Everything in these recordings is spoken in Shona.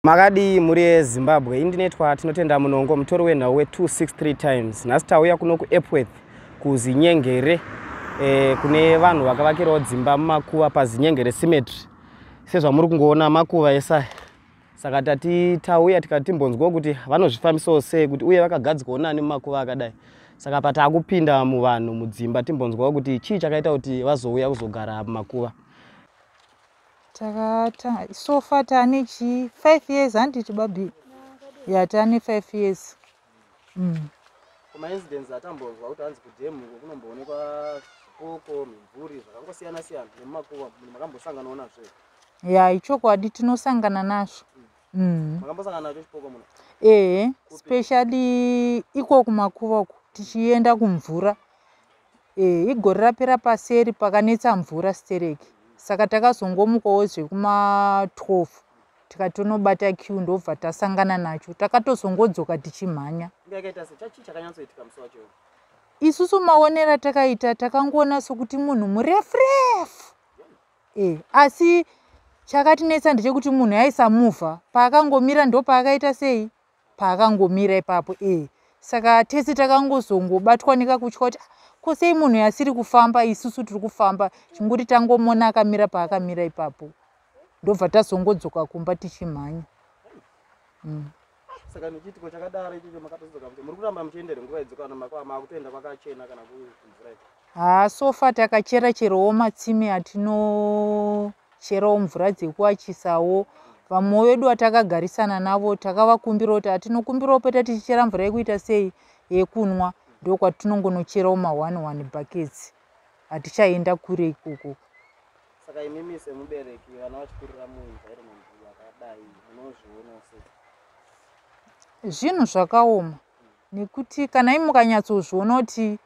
Makadii mhuri yeZimbabwe, indinetwa tinotenda munongo mutori wenhau we263 times. Nhasi tauya kuno kuEpworth kuZinyengere eh, kune vanhu vakavakirawo dzimba mumakuva paZinyengere Cemetery. Sezvamuri kungoona makuva esa saka tati tauya tikati timbonzwawo kuti vanozvifambisawo sei kuti uye vakagadzikawo nani mumakuva akadai saka pataakupinda muvanhu mudzimba timbonzwawo kuti chii chakaita kuti vazouya kuzogara mumakuva takata so far tane chii five years handiti babi ya tane five years mm. kumaincidence atambonzwa kuti hanzi kudhemu uko kunomboonekwa zvipoko mimvuri zvakangosiyana siyana nemumakuva makambosangana onazvo ya ichokwadi tinosangana nazvo mm. Mm. makambosangana nacho chipoko muno ehe specially iko kumakuva uku tichienda kumvura Eh, igore rapera paseri pakanetsa mvura stereki saka takazongomukawo zvekuma 12 tikati tonobata q ndobva tasangana nacho takatozongodzoka tichimhanya isusu maonero atakaita takangoona sokuti munhu murefu refu e asi chakatinetsa ndechekuti munhu aisamuvha paakangomira ndopaakaita sei paakangomira ipapo ee saka tese takangozongobatwa nekakutya kuti ah, ko sei munhu yasiri kufamba isusu tiri kufamba chinguri tangomona akamira paakamira ipapo ndobva tazongodzoka kumba tichimhanya mm. saka nechiitiko chakadaro ichocho makatodzoka kuti muri kuramba muchiendere nguva idzokana makwama akutoenda kwakachena kana kumvura Haa so far takachera cherowo matsime atinocherawo mvura dzekuwachisawo vamwe vedu vatakagarisana navo takavakumbira kuti atinokumbirawo peta tichichera mvura yekuita sei yekunwa ndokwatinongonocherawo ma one one buckets hatichaenda kure ikoko saka imimi semubereki vana vachikurira muenvironment yakadai munozviona sei zvinhu zvakaoma nekuti kana imi mukanyatsozviona kuti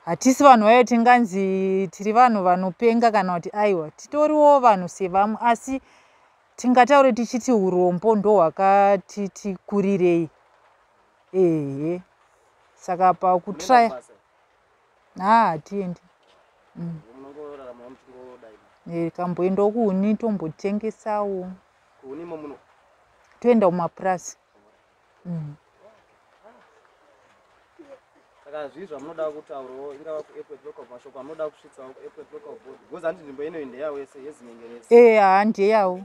hatisi vanhu vayo tinganzi tiri vanhu vanopenga kana kuti aiwa titoriwo vanhu sevamwe asi tingataure tichiti urombo ndo hwakatiti kurirei ehe saka pakutraya haa hatiendi mm. eh, kamboenda kuuni tombotengesawo toenda kumapurasi mm. saka zvii zvamunoda kutaurawo ingava kuairport local mashoko amunoda kusvitsawo kuairport local board because handi nzvimbo inoyi ndeyawo yese yezinyengerese ee haa ndeyawo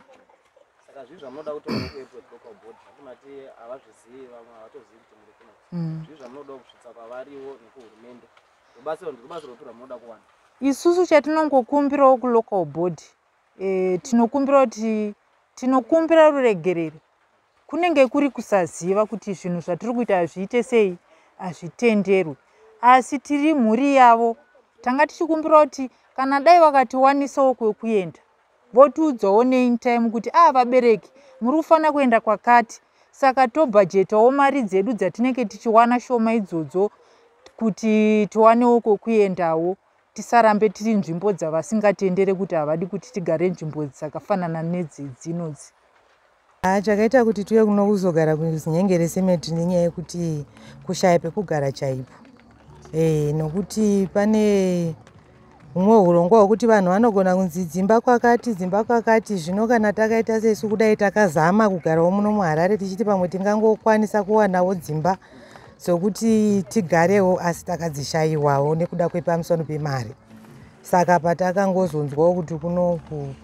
saka zvii zvamunoda kutaurawo kuairport local board zvati mati havazvizivi vamwe havatozivi kuti muri kuno mm. zvii zvamunoda kusvitsa kwavariwo nekuhurumende rubatsiro ndirubatsiro rupi rwamunoda kuwana isusu chatinongokumbirawo kulocal board e, tinokumbira kuti tinokumbira ruregereri kunenge kuri kusaziva kuti zvinhu zvatiri kuita hazviite sei hazvitenderwi asi tiri mhuri yavo tanga tichikumbira kuti kana dai vakatiwanisawo kwekuenda votiudzawo neintime kuti aa ah, vabereki muri kufanira kuenda kwakati saka tobhajetawo mari dzedu dzatinenge tichiwana shoma idzodzo kuti tiwanewo kwekuendawo tisarambe tiri nzvimbo dzavasingatendere kuti havadi kuti tigare nzvimbo dzakafanana nedzedzinodzi Ah, chakaita kuti tiuye kuno kuzogara kuzinyengere cement nenyaya yekuti kushaya pekugara chaipo e, nokuti pane humwe urongwa hwekuti vanhu vanogona kunzi dzimba kwakati dzimba kwakati zvino kana takaita sesu kudai takazama kugarawo muno muharare tichiti pamwe tingangokwanisa kuwanawo dzimba dzokuti tigarewo asi takadzishayiwawo nekuda kwepamusano pemari saka patakangozonzwawo kuti kunoku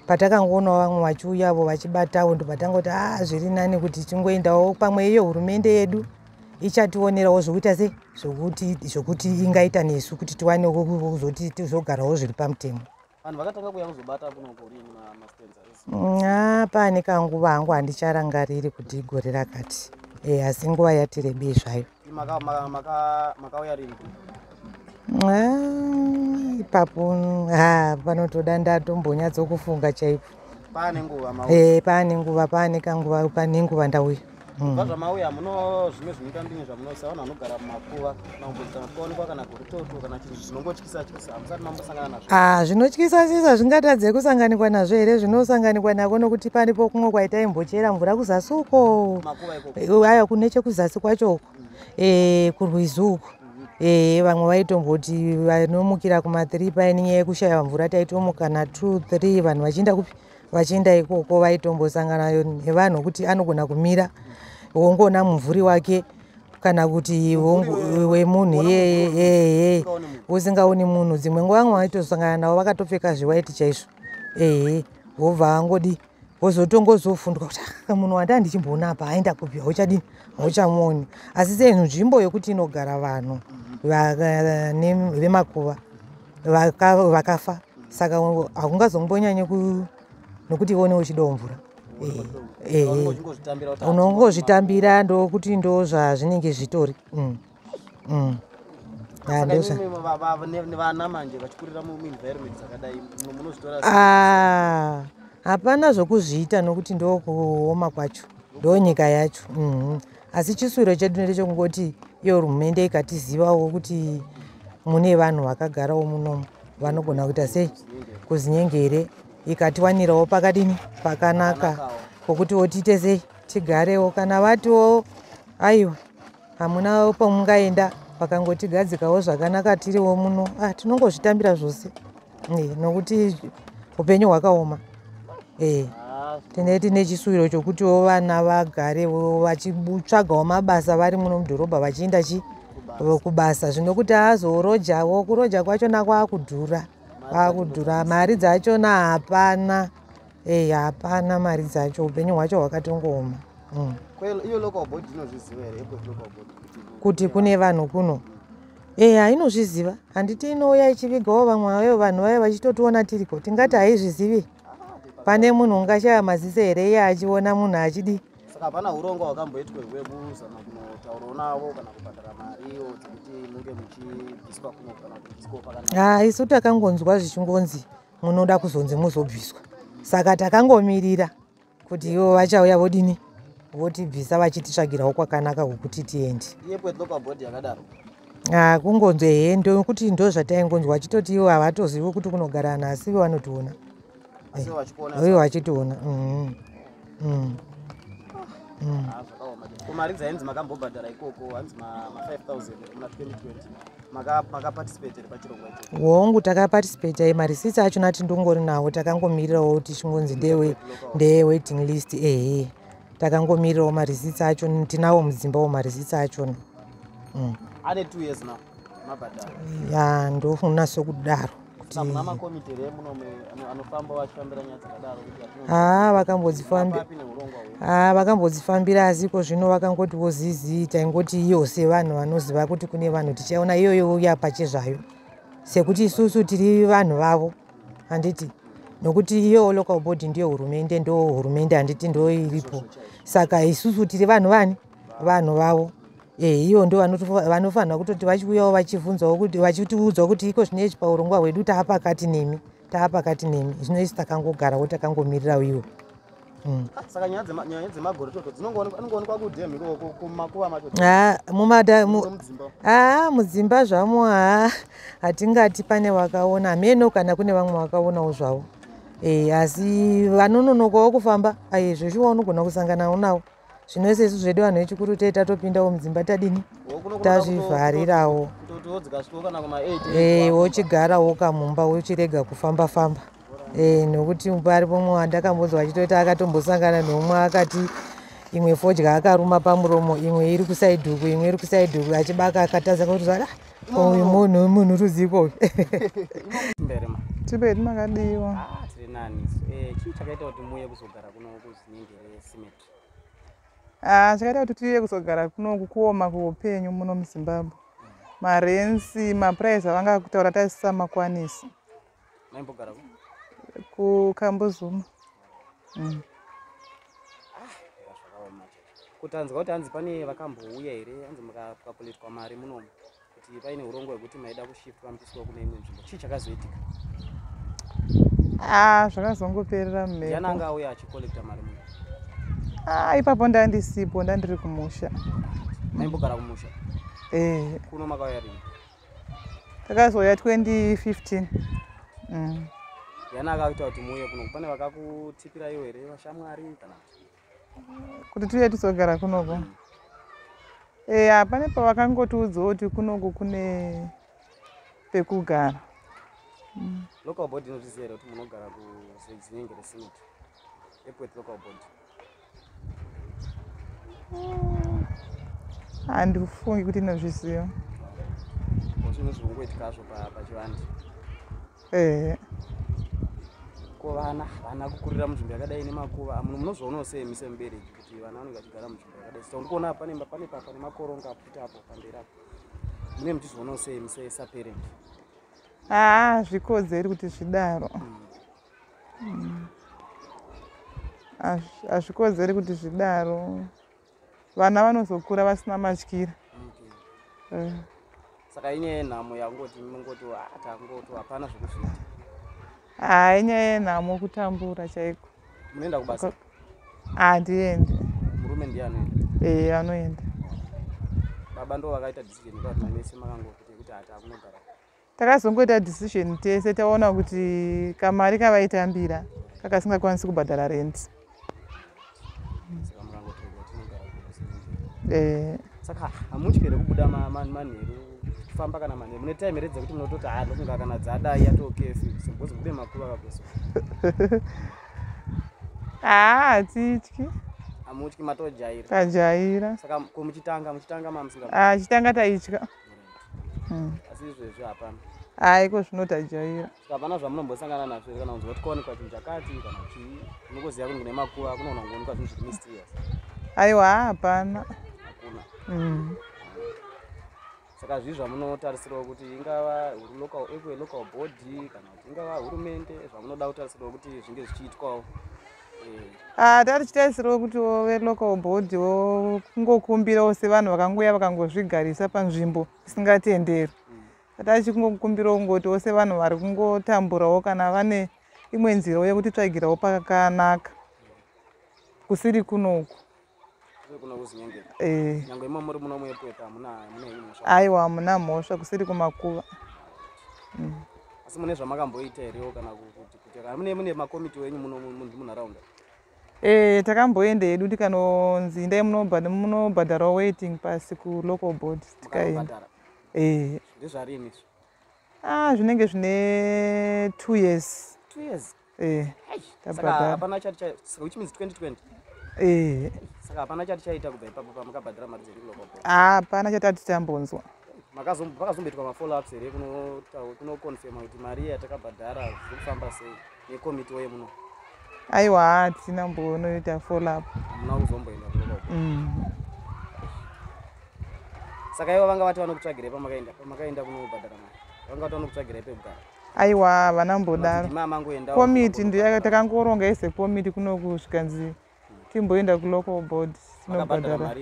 patakangoonawo vamwe vachiuyavo vachibatawo ndobatangoti a ah, zviri nani kuti tingoendawo pamwe iyo hurumende yedu ichationerawo zvokuita se zvokuti zvokuti ingaita nesu kuti tiwane kuzoti tizogarawo zviri pamutemo vanhu vakatanga kuya kuzobata kunokorini mastenza a ah, pane kanguva hangu handicharangariri kuti igore rakati e asi nguva yatirebei zvayo Ah, ipapo ah, panotoda ndatombonyatsokufunga chaipo paane nguva eh, paane nguva paane kanguva pane nguva ndauya hmm. kubva zvamauya muno zvimwe zvinoita ndini zvamunoisa vanhu vanogara mumakuva maumbudzana kuonekwa kana goritoto kana chinhu zvinongoti Ah, zvinotyisa sisi hazvingatadze kusanganikwa nazvo here zvinosanganikwa nako nokuti pane pokumwe kwaita imbochera mvura kuzasi uko aya kune chekuzasi kwacho uko e, kurwizi uko e, vamwe vaitomboti vanomukira kumathree paine nyaya yekushaya mvura taitomuka natwo three vanhu vachienda kupi vachienda ikoko vaitombosangana nevanhu okuti anogona kumira wongoona mumvuri wake kana kuti wemunhu iyeye usingaoni munhu dzimwe nguva vamwe vaitosangana navo vakatopfeka zviwaiti chaizvo ehe wobva vangodi wozotongozofundwa kuti ah, munhu wandaa ndichimboona apa aenda kupi hauchadini hauchamuoni asi sei nzvimbo yokuti inogara vanhu vemakuva vakafa saka hakungazombonyanye nokuti iwe une uchidawo mvura eh, eh, unongozvitambira ndokuti ndo zvazvinenge zvitori mm, mm. Ah, hapana zvokuzviita nokuti ndokuoma kwacho ndonyika yacho mm-hmm. asi chisuviro chedu ndechekungoti iyo hurumende ikatizivawo kuti mune vanhu vakagarawo munomu vanogona kuita sei kuzinyenge here ikatiwanirawo pakadini pakanaka kokutiwo tiite sei tigarewo kana vatiwo aiwa hamuna pamungaenda vakangotigadzikawo zvakanaka tiriwo muno ah, tinongozvitambira zvose eh, nokuti upenyu hwakaoma eh, tine tine chisuwiro chokutiwo vana vagare vachitsvagawo mabasa vari muno mudhorobha vachiinda chi kubasa zvino kuti aazorojawo kuroja kwachona kwaakudhura kwaakudhura mari dzachona hapana ei hapana mari dzacho upenyu hwacho hwakatongooma mm. kuti kune vanhu kuno eya inozviziva handiti inouya ichivigawo vamwe vayo vanhu vayo vachitotiona tiriko tingati haizvizivi pane munhu ungashaya maziso here iye achiona munhu achidii saka hapana urongwa hwakamboitwa hwekuzama kunotaurawo navo kana kubhadhara mariwo dzekuti munge muchibviswa kuno kana kubviswa pakanaka ha ah, isu takangonzwa zvichingonzi munoda kuzonzi muzobviswa saka takangomirira kuti ivo vachauya vodini votibvisa vachititsvagirawo kwakanaka kwokuti tiendi ah, kungonzwa hee ndokuti ndo zvataingonzwa vachitoti ivo havatozivi kuti kunogara vanhu asi ivo vanotiona ivo vachitiona mm-hmm. mm. mm. ah, mari dzainzi makambobhadhara ikoko hanzi ma 5000 muna 2020 hongu takaparticipate ye marisitsi achona ati ndongori nawo takangomirirawo kuti chingonzi ndeye waiting list ehe takangomirirawo marisitsi achona tinawo mudzimba wo marisitsi achona mm. ya ndofunasa kudaro haa vakambodzifambira haa vakambodzifambira asi iko zvino vakangoti wozizii taingoti iyo sevanhu vanoziva kuti kune vanhu tichaona iyoyo uya pachezvayo sekuti isusu tiri vanhu vavo handiti nokuti iyo local body ndiyo hurumende ndo hurumende handiti ndo iripo saka isusu tiri vanhu vani vanhu vavo Eh, ivo ndo vanofanira kutoti vachiuyawo vachivhunzawo kuti vachitiudzwa kuti iko zvineizvi paurongwa hwedu taa pakati nemi taa pakati nemi zvino isi takangogarawo takangomirirawo ivo hmm. haa mudzimba zvamo haa hatingati pane vakaona hameno kana kune vamwe vakaonawo zvavo eh, asi vanononokawo kufamba aizveshuwa unogona kusanganawo navo zvino sesu zvedu vanhu vechikuru tee tatopindawo mudzimba tadini tazvivharirawo eh, wochigarawo kamumba wochirega kufamba famba eh, nokuti pari pomwe wandakambonzwa achitoita akatombosangana nomwe akati imwe fodya akaruma pamuromo imwe iri kusaiduku imwe iri kusaiduku achibaka akatadza kuti zvada uyu munhu munhu ruziko uyu tibedi makadiwa ah, eh, chii chakaita kuti muye kuzogara kuno kuzinenge Ah, zvakaita kuti tiye kuzogara kuno kukuoma kuupenyu muno muzimbabwe marensi mapuraizi avanga kutaura taisisamakwanisi kukambuzuma mm. ah, kutanzwa kuti hanzi pane vakambouya here hanzi mukapuletwa mari munomu kuti paine urongwa hwekuti maida kushiftwa mupiswa kune imwe nzvimbo chii chakazoitika ah zvakazongoperera mmeananga auya achicollecta mari mu ah ipapo ndandisipo ndandiri kumusha maimbogara kumusha eh kuno makauya rini takazouya 2015 mm. yana akaita kuti muuye kuno pane vakakutipira iwo here vashamwari kana kuti tiuye tizogara kunoko mm. eya pane pavakangotiudzawo kuti kunoko kune pekugara mm. local board inozviziva here kuti munogara kuzinenge resinit epwet local board mm. handifungi kuti inozviziva zvinhu zvikungoitika zvo pachivandi pa ehe ko vana vana kukurira munzvimbo yakadai nemakuva amuno munozvoonawo sei mise mubereki kuti vana vanenge vachigara munzvimbo yakadai saka ndikuona apa nemba pane papa nemakoronga aputi apo pamberi apo mune muchizvionawo sei mise saparent haa zvikodzeri kuti zvidaro hazvikodzeri kuti zvidaro vana vanozokura vasina matyira okay. uh. saka inyaya yenhamo yangoti mingoti atangoto ah, hapana zvekuzviita haa ah, inyaya yenhamo kutambura chaiko munoenda kubasa handiendi ah, murume ndiye anoenda ee eh, anoenda baba ndo vakaita decision kati mamese makangokuti yekuti hati akunogara Takazongoita decision tese taona kuti kamari kavaitambira kakasingakwanisi kubhadhara rent. Eh. Saka hamutyi here kubuda manheru kufamba kana manheru mune time here dzekuti munototi haa ndokunga kana dzadai yatokefu because kune makuva kakuso haa hatityi hamutyi matojaira tajaira saka ko muchitanga muchitanga mamusinga ah, chitanga taitya hmm. asi izvezvi hapana hayi ko zvinotajaira hapana zvamunombosangana nazvo here kana kunzwa kuti kwaonekwa chinhu chakati kana chii unokuziva kuti kune makuva kunogona kungoonekwa zvinhu zviri mysterious aiwa hapana hakuna hmm. saka zvii zvamunotarisirawo kuti ingava local eque local body kana kuti ingava hurumende zvamunoda kutarisirawo kuti zvinge zvichiitwawo Ah, tatichitarisirawo kuti wo velocal board wo kungokumbirawo sevanhu vakangouya vakangozvigarisa panzvimbo isingatenderwi tatachi kungokumbirawo kungotiwo sevanhu vari kungotamburawo kana vane imwe nzirawo yekuti tsvagirawo pakanaka kusiri kunoku Eh. aiwa hamuna mhosva kusiri kumakuva mm. asi mune zvamakamboita herewo kana kutimune mune makomiti wenyu munharaunda e takamboenda hedu tikanonzi indai munobhadharawo waiting pasi kulocal board tikaenda e ah zvinenge zvine two years two years eh saka hapana chati chai saka which means 2020 eh saka hapana chati chaita kubva ipapo pamukabhadhara mari dzedikulo kwapo ah hapana chati ati tambonzwa makazomboitwa mafollow ups here kunoconfirma kuti mari yatakabhadhara zviri kufamba sei nekomiti woye muno aiwa hatina mbonoita follow up hamuna kuzomboenda kulo mm. saka ivo vanga vati vanokutsvagirei pamakaenda pamakaenda kunobhadhara mari vanga vati vanokutsvagirei pekugara aiwa havana mbodaro komiti ndiyo takangoronga ese komiti kunoku zvikanzi timboenda kulocal board tinobhadhara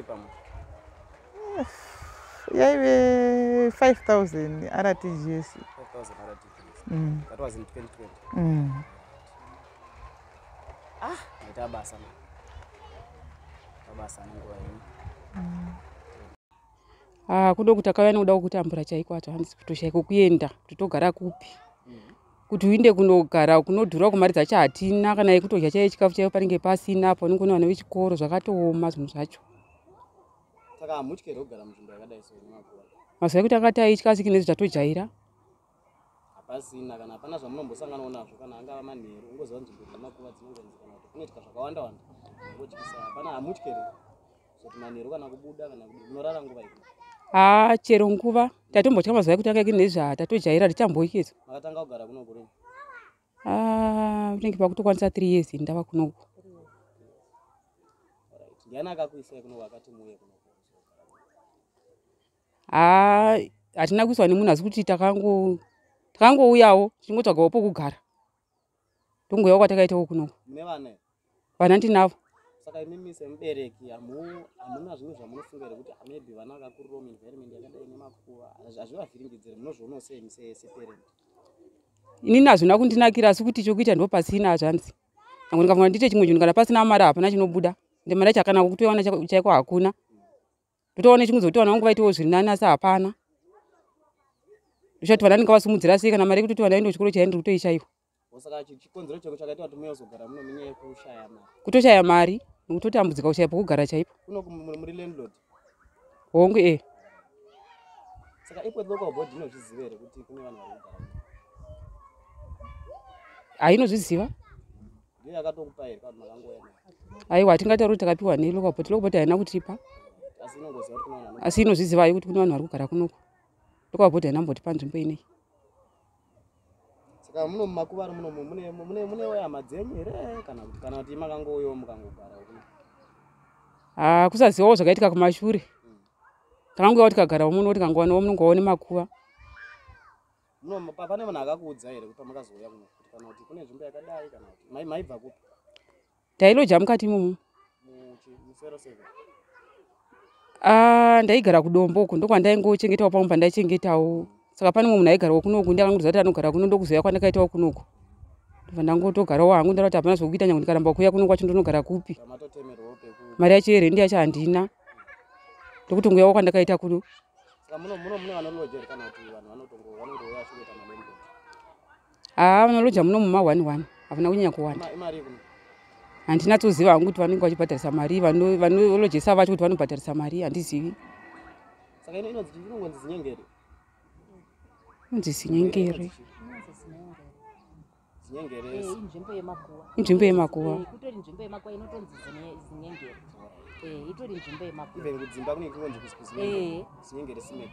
yaive 5000 rtgs mm. mm. ah, mm. ah, kudo kuti akauya nekuda kwekutambura chaiko acho hanzi kutoshaiko kuenda kuti togara kupi kuti uinde kunogara kunodhura kumari dzacho hatina kana yekutodya chaiyo chikafu chaiyo panenge pasina apo unenge une vana vechikoro zvakatooma zvinhu zvacho mazuva ekuti akati aitya asi kinezvi tatojaira hapasina kana hapana zvamunombosanganawo nazvo kana angava manheru ungoziva nzvimbo dzine makuva dzinongonzi kana kuti kunoitika zvakawanda wanda ungotyisa hapana hamutye here zoti manheru kana kubuda kana kudii munorara nguva ii haa chero nguva tatombotya mazuva ekuti akaiki nezvaa tatojaira richamboikizwa makatanga kugara kuno kuri haa unenge pakutokwanisa three years ndava kunoku ndiani akakuisai kunoku akati muuye kuno haa hatina kuiswa nemunhu asi kuti takango takangouyawo tichingotsvagawo pokugara tongouyawo kwatakaitawo kunoko vana ndinavo saka imi mise mubereki hamuna zvimwe zvamunofunga here kuti maybe vana vakakurira muenvironment yakadai nemakuva hazvivavhiringidzire munozvionawo sei mise separent inini hazvina kundinakira asi kuti chokuita ndo pasina hazvanzi nangu ndikafunga ndiite chimwe chinhu kana pasina mari hapana chinobuda ndimari yacho akanaka kutoiwana chaiko hakuna ndotoona chingudzi kuti vana vangu vaitiwo zviri nani asi hapana ndochati vana ndinga vasimudzira sei kana mari yekutoti vana vaende kuchikoro chaiya ndiri kutoishaiwa kutoshaya mari nekutotambudzika kushaya pokugara chaipo hongu e hainozviziva aiwa hatingatauri kuti takapiwa nei local bot local bot haina kutipa asi inozviziva yokuti kune vanhu vari kugara kunoko local bot haina kumbotipa nzvimbo inei saka muno mumakuvaro muno mune wayama dzenyu here kana kuti kana kuti makangouyawo mukangogara ah, kusazivawo zvakaitika kumashure hmm. takangouyawo tikagara muno tikangowanawo munongoone makuva No, pa- pane munhu akakuudza here kuti pamakazouya kuno kuti kana kuti kune nzvimbo yakadai kana kuti mai- maibva kupi tailoja mukati imomo Muchi- musero seven Ah, ndaigara kudombo uku ndokwandaingochengetawo pamwe pandaichengetawo saka pane mumwe munhu aigarawo kunoku ndiye akangondiudza kuti anogara kuno ndokuzouya kwandakaitawo kunoku ndobva ndangotogarawo hangu ndara kuti hapana zvokuita nyange ndikaramba kuuya kuno kwacho ndonogara kupi pamatotemerwawo peku mari yacho yerhendi yacho handina ndokutongouyawo kwandakaita kuno haa vanoloja muno muma one one havana kunyanya kuwanda handina toziva hangu kuti vanenge vachibhadharisa mari vanolojesa vacho kuti vanobhadharisa mari handizivi inonzi zinyengeri inzvimbo yemakuva inzvimbo yemakuva eh, kutori nzvimbo yemakuva inotonzi zinyengere eh, itori nzvimbo yemakuvakudzimba kune kunonzi kuzinyengere eh. simet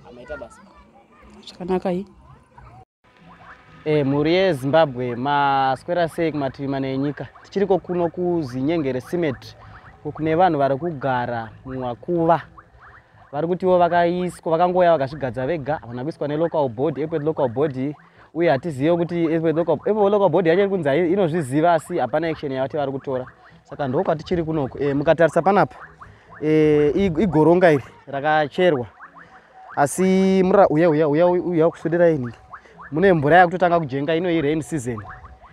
amaita basa zvakanaka i e mhuri yezimbabwe maswera sei kumativi mana enyika tichiriko kuno kuzinyengere simet kune vanhu vari kugara mumakuva vari kutiwo vakaiswa vakangouya vakazvigadza vega havana kuiswa nelocal body epwet local body uye hatizive kuti epwet local body yacho iri kunzi inozviziva asi hapana action yavati vari kutora saka ndokwatichiri kunoku e, eh, mukatarisa panapa e, igoronga iri rakacherwa asi mura uya uya uya uya kusudira ini mune mvura yakutotanga kujenga ino irain season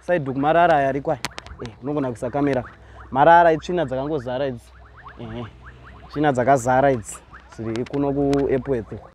Saiduku marara aya ariko aya. Eh, unogona kuisa kamera. Marara itsvina dzakangozara idzi. Eh. Tsvina dzakazara idzi. Dziri kuno kuEpworth.